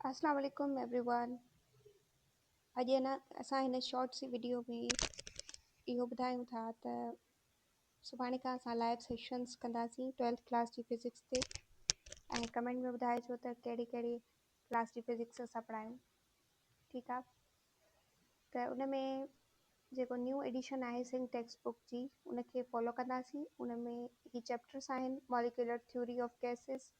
اسلام عليڪم everyone اڄ هن اسان هن شارٽ سي وڊيو ۾ اهو ٻڌايون ٿا ته سڀاڻي کان اسان لائيو سيشنس ڪنداسين ٽويلٿ ڪلاس جي فزڪس تي ۽ ڪمينٽ ۾ ٻڌائجو ته ڪهڙي ڪهڙي ڪلاس جي فزڪس اسان پڙهايون ٺيڪ آ ته ان ۾ جيڪو نيو ايڊيشن آهي سنگ ٽيڪسٽ بڪ جي ان کي فالو ڪنداسين ان ۾ هي چيپٽرس آهن ماليڪيولر ٿيوري آف ڪيسز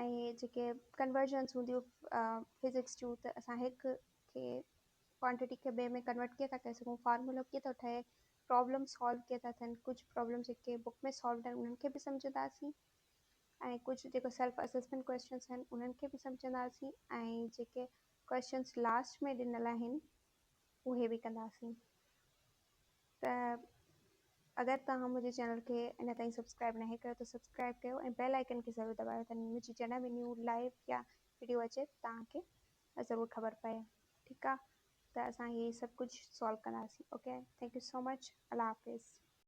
۽ جيڪي ڪنورجنس هونديون فزڪس جون ته اسان هڪ کي ڪوانٽٽي کي ٻئي ۾ ڪنورٽ ڪيئن ٿا ڪري سگهون فارمولو ڪيئن ٿو ٺهي پرابلم سالو ڪيئن ٿا ٿين ڪجهه پرابلم جيڪي بڪ ۾ سالو آهن انهن کي به سمجهنداسين ۽ ڪجهه جيڪو سيلف اسسمنٽ ڪويشچنس آهن انهن کي به سمجهنداسين ۽ جيڪي ڪويشچنس لاسٽ ۾ ڏنل آهن اهي به ڪنداسين ته اگر توهان منهنجي چينل کي اڃا تائين سبسڪرائب ناهي ڪيو ته سبسڪرائب ڪيو ۽ بيل آئيڪن کي ضرور دٻايو ته منهنجي جڏهن به نيو لائيو يا وڊيو اچي ته توهان کي ضرور خبر پئي ٺيڪ آ ته اسان هي سڀ ڪجهه سالو ڪنداسين okay thank you so much الله حافظ